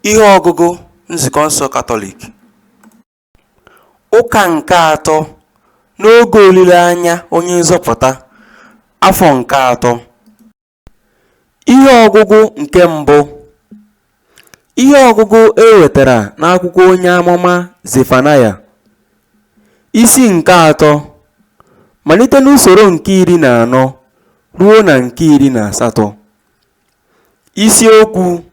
Ihe ọgụgụ Nzukọ nsọ Katọlik Ụka nke atọ n'oge olileanya Onye Nzọpụta, afọ nke atọ. Ihe ọgụgụ nke mbụ Ihe ọgụgụ e wetara n'akwụkwọ onye amụma Zefanaya, isi nke atọ, malite n'usoro nke iri na anọ ruo na nke iri na asatọ. Isi Okwu,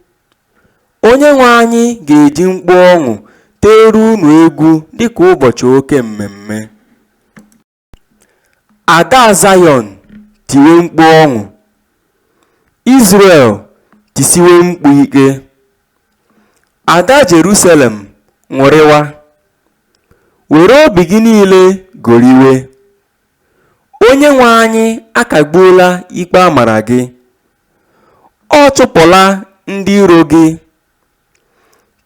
Onyenwe anyị ga-eji mkpu ọṅụ teere unu egwu dịka ụbọchị oke mmemme. Ada Zayọn tiwe mkpu ọṅụ, Izrel tisiwe mkpu ike. Ada Jerusalem ṅụrịwa, were obi gị niile goriwe. Onyenwe anyị akagbuola ikpe a mara gị, ọ chụpụla ndị iro gị.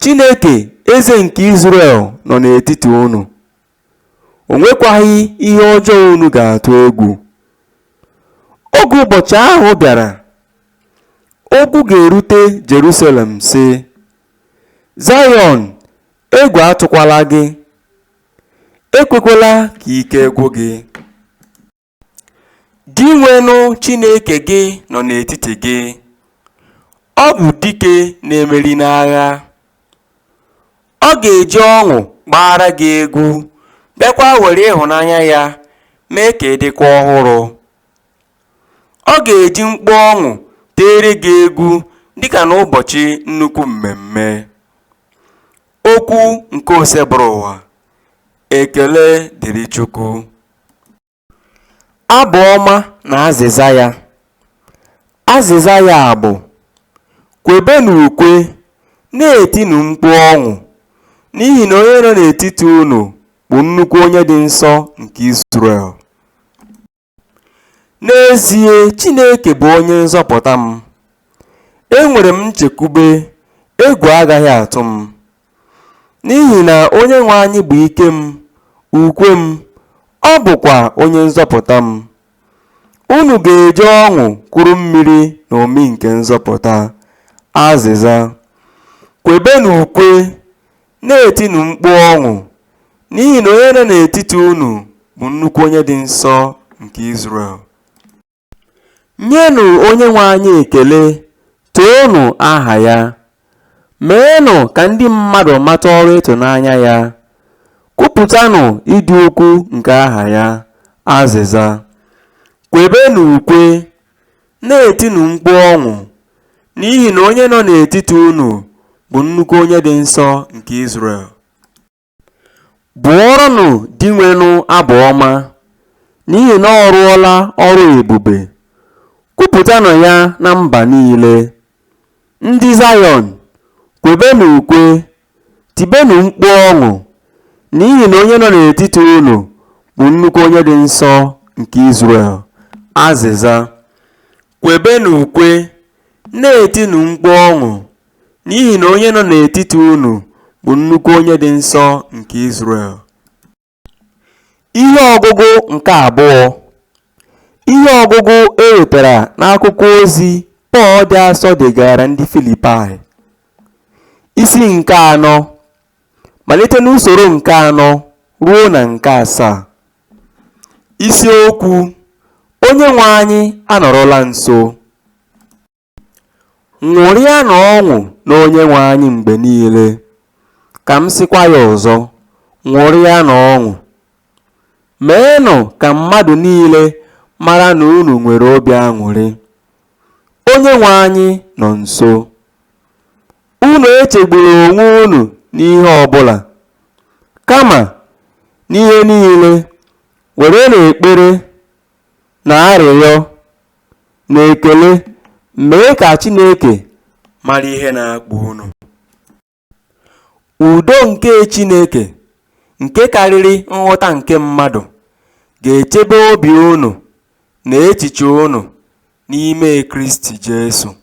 Chineke, Eze nke Izrel nọ n'etiti unu. O nwekwaghị ihe ọjọọ unu ga-atụ egwu. Oge ụbọchị ahụ bịara, okwu ga-erute Jerusalem, sị, Zayọn, egwu atụkwala gị. ekwekwala ka ike gwụ gị dinwenụ chineke gị nọ n'etiti gị ọ bụ dike na-emeri n'agha ọ ga-eji ọṅụ gbaara gị egwu bịakwa were ịhụnanya ya mee ka ị dịkwa ọhụrụ ọ ga-eji mkpu ọṅụ teere gị egwu dịka n'ụbọchị nnukwu mmemme Okwu nke Osebụrụwa. Ekele dịrị Chukwu. Abụ ọma na azịza ya. Azịza ya bụ, Kwebenụ ukwe, na-etinụ mkpu ọṅụ, n'ihi na onye nọ n'etiti unu bụ nnukwu onye dị nsọ nke Izrel. N'ezie, Chineke bụ onye nzọpụta m. Enwere m nchekwube, egwu agaghị atụ m. N'ihi na Onyenwe anyị bụ ike m, ukwe m, ọ bụkwa onye nzọpụta m. Unu ga-eji ọṅụ kuru mmiri na omi nke nzọpụta. Azịza. Kwebenụ ukwe, Na-etinụ mkpu ọṅụ, n'ihi na onye nọ n'etiti unu bụ nnukwu onye dị nsọ nke Izrel. Nyenụ Onyenwe anyị ekele, toonụ aha ya. Meenụ ka ndị mmadụ mata ọrụ ịtụnanya ya. Kwupụtanụ ịdị ukwu nke aha ya. Azịza. Kwebenụ ukwe, Na-etinụ mkpu ọṅụ, n'ihi na onye nọ n'etiti unu bụ nnukwu onye dị nsọ nke Izrel. Bụọrọnụ Dinwenụ abụ ọma, n'ihi na ọ rụọla ọrụ ebube. Kwupụtanụ ya na mba niile. Ndị Zayọn, kwebenụ ukwe Tibenụ mkpu ọṅụ, n'ihi na onye nọ n'etiti unu bụ nnukwu onye dị nsọ nke Izrel. Azịza. Kwebenụ ukwe, na-etinụ mkpu ọṅụ, n'ihi na onye nọ n'etiti unu bụ nnukwu onye dị nsọ nke Izrel. Ihe ọgụgụ nke abụọ Ihe ọgụgụ e wetara n'akwụkwọ ozi Pọl dị asọ degaara ndị Filipaị isi nke anọ malite n'usoro nke anọ ruo na nke asaa isiokwu Onyenwe anyị anọrọla nso Ṅụrịanụ ọṅụ n'Onyenwe anyị mgbe niile. Ka m sịkwa ya ọzọ, ṅụrịanụ ọṅụ. Meenụ ka mmadụ niile mara na unu nwere obi aṅụrị. Onyenwe anyị nọ nso. Unu echegbula onwe unu n'ihe ọ bụla. Kama, n'ihe niile, werenụ ekpere na arịrịọ na ekele mee ka Chineke mara ihe na-akpa unu. Udo nke Chineke nke karịrị nghọta nke mmadụ ga-echebe obi unu na echiche unu n'ime Kristi Jesu.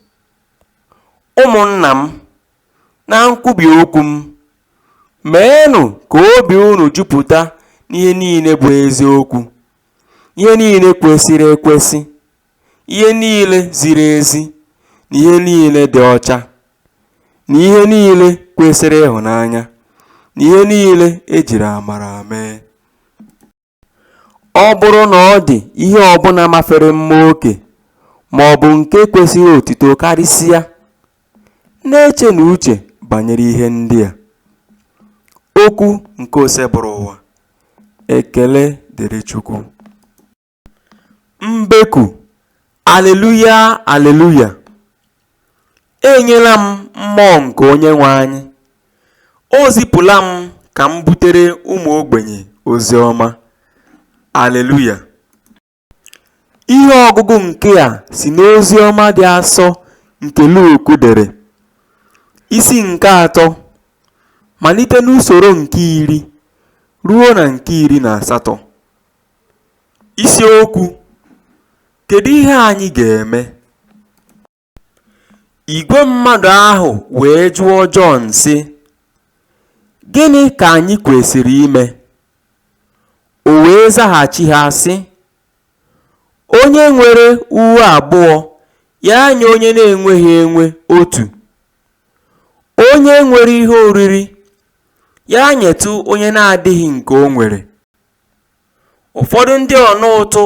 Ụmụnna m, na nkwubi okwu m, meenụ ka obi unu jupụta n'ihe niile bụ eziokwu, ihe niile kwesịrị ekwesị, ihe niile ziri ezi, na ihe niile dị ọcha, na ihe niile kwesịrị ịhụnanya, na ihe niile e jiri amara mee. Ọ bụrụ na ọ dị ihe ọ bụla mafere mma oke ma ọ bụ nke kwesịrị otito karịsịa, Na-echenụ uche banyere ihe ndị a, Okwu nke Osebụrụwa, Ekele dịrị Chukwu! Mbeku, Aleluya, Aleluya! E nyela m Mmụọ nke Onyenwe anyị, O zipụla m ka m butere ụmụ ogbenye ozi ọma. Aleluya! Ihe ọgụgụ nke a si n'ozi ọma dị asọ nke Luk dere, isi nke atọ, malite n'usoro nke iri ruo na nke iri na asatọ. Isiokwu Kedu ihe anyị ga-eme? Igwe mmadụ ahụ wee jụọ Jọn, sị, Gịnị ka anyị kwesịrị ime? O wee zaghachi ha, sị, Onye nwere uwe abụọ, ya nye onye na-enweghị enwe otu. Onye nwere ihe oriri, ya nyetụ onye na-adịghị nke o nwere. Ụfọdụ ndị ọna ụtụ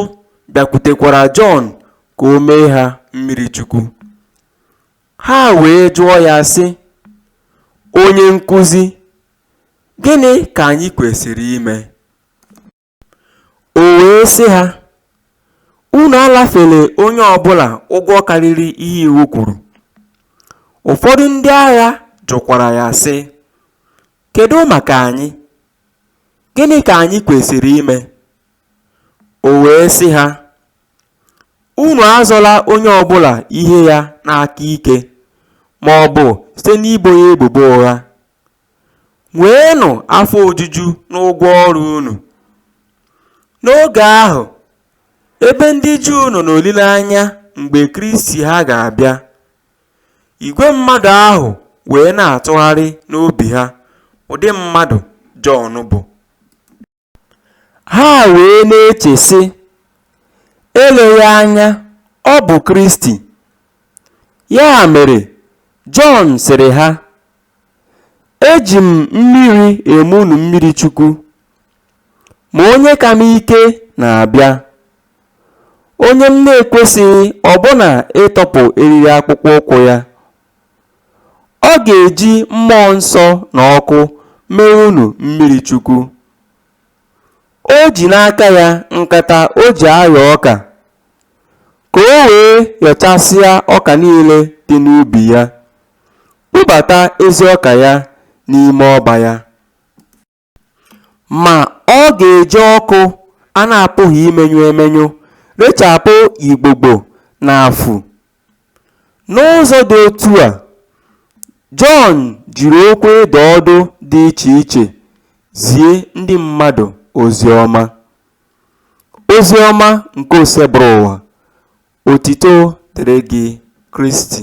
bịakwutekwara Jọn ka o mee ha mmiri chukwu. Ha wee jụọ ya, sị, Onye nkụzi, gịnị ka anyị kwesịrị ime? O wee sị ha, Unu anafela onye ọ bụla ụgwọ karịrị ihe iwu kwuru. Ụfọdụ ndị agha jụkwara ya, sị, Kedụ maka anyị? Gịnị ka anyị kwesịrị ime? O wee sị ha, Unu azọla onye ọ bụla ihe ya n'aka ike ma ọ bụ site n'ibo ya ebubo ụgha. Nweenụ afọ ojuju n'ụgwọ ọrụ unu. N'oge ahụ, ebe ndị Juu nọ n'olileanya mgbe Kristi ha ga-abịa, Igwe mmadụ ahụ wee na-atụgharị n'obi ha ụdị mmadụ Jọn bụ. Ha wee na-eche, sị, Eleghị anya ọ bụ Kristi. Ya mere, Jọn sịrị ha, Eji m mmiri eme unu mmiri Chukwu, ma onye ka m ike na-abịa. onye m na-ekwesịghị ọbụna ịtọpụ eriri akpụkpọ ụkwụ ya. Ọ ga-eji mmụọ nsọ na ọkụ mee unu mmiri chukwu. O ji n'aka ya nkata o ji ayọ ọka, ka o wee yọchasịa ọka niile dị n'ubi ya, kpobata ezi ọka ya n'ime ọba ya. Ma ọ ga-eji ọkụ a na-apụghị imenyụ emenyụ rechapụ igbogbo na afu. N'ụzọ dị otu a, Jọn jiri okwu ịdụ ọdụ dị iche iche zie ndị mmadụ ozi ọma. Ozi ọma nke Oseburuwa, otito dịrị gị Kristi.